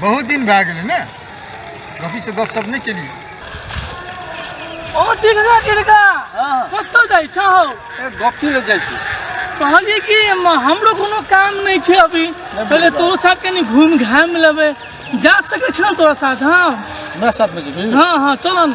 बहुत दिन भए गेलै ने रफीसँ गपशप नहि केलियै ओ टिकरा टिकरा कतऽ जाइ छौ ए गपी लऽ जाइ छी कहलिए कि म- हमरो कोनो काम नहीं छै अभी पहले तोरो साथ कनी घूम घाम लेबे जा सके छौ तोरा साथ हाँ हमरा साथमे जेबै हाँ हाँ चल न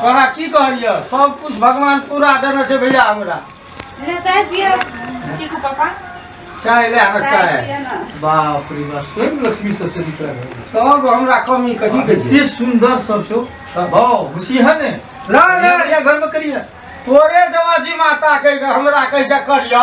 तोरा की कहलिए सब कुछ भगवान पूरा देने से भैया हमरा ले चाय पिए की को पापा चाय ले हमरा चाय चाय पिए ना बाप रे बाप स्वयं लक्ष्मी से से निकल गए तब हमरा कमी कथी के छै इतने सुंदर सब छो वाह खुशी है ने ना ना बढ़िया घर में करी है तोरे दवाजी माता कह के हमरा कह जा करिया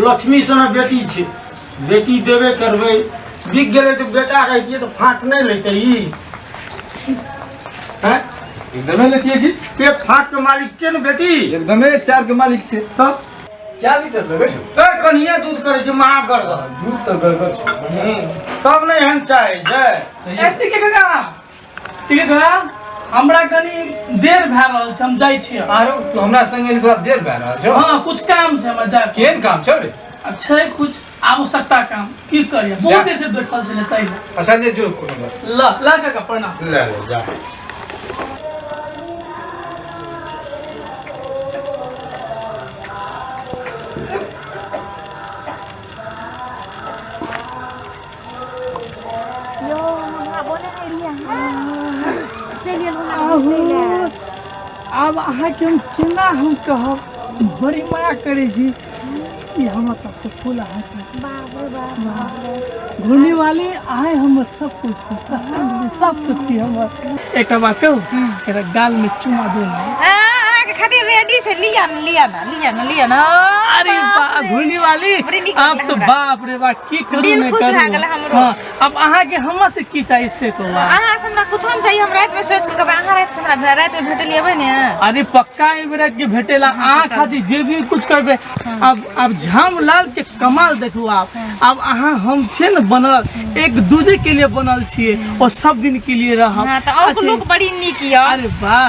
लक्ष्मी सना बेटी छै बेटी देबे करबै बिक गेलै तऽ बेटा रहितियै तऽ फाँट नहि लेतै ई हैं? एकदमे लेतिए की पे फाँट के मालिक छै ने बेटी एकदमे चार के मालिक छै तब चार लीटर लेबै छौ ए कनिए दूध करै छै महा गड़गड़ दूध तऽ गड़गड़ छौ तब नहि एहन चाहै छै सही एत्ते के कका ठीक है हमरा कनी देर भए रहल छै हम जाइ छी आरो तू हमरा संगे थोड़ा देर भए रहल छौ हां कुछ काम छै हमरा जा केन काम छौ रे अच्छा कुछ आवश्यकता काम की करिए बहुत देर से बैठल छले तै अच्छा ले जो कोनो बात ल ल का प्रणाम ले ले जा आब अहाँके हम केना हम कहब बड़ी माया करै छी ई हमर सबसे फूल अहाँके बाप रे बाप बाप रे। घूमने वाले आए हमर सब कुछ छी पसंद भी सब कुछ छी हमर एकटा बात कहू एकरा गाल में चुमा दू ना अहाँके खातिर रेडी छै लिअ ने लिअ ने लिया ना लिया ना अरे बा घुली वाली बड़ी नीक अब तो लगला हमरा। बाप रे बा की करू दिल मैं खुश करू भए गेल हमरो। हाँ, अब अहाँ के हमरा से की चाहिए से तो बा। अहाँ से हमरा कुछो नहि चाहिए हम राति में सोच के कहबै अहाँ राति से हमरा राति में भेटल अबै ने अरे पक्का एहि बेरा के भेटेला अहाँ खातिर जे भी कुछ करबे अब अब झाम लाल के कमाल देखू आप अब अहाँ हम छे न बनल एक दूजे के लिए बनल छिए और सब दिन के लिए रहब हाँ तऽ अहूँके अच्छे। लोक बड़ी नीक यऽ अरे वाह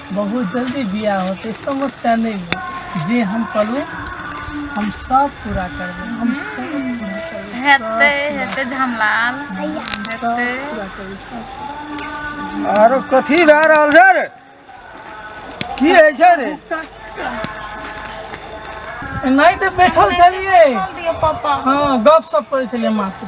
बहुत जल्दी बियाह होते समस्या नहीं है जे हम कहलू हम सब पूरा करबे हम सब पूरा करबे हेतै हेतै झमलाल सब हेतै पूरा करबे सब आरो कथी भए रहल छै रे की होइ छै रे नहीं तो बैठल छलिए दियो पापा हाँ गप सप करे छलिए मात्र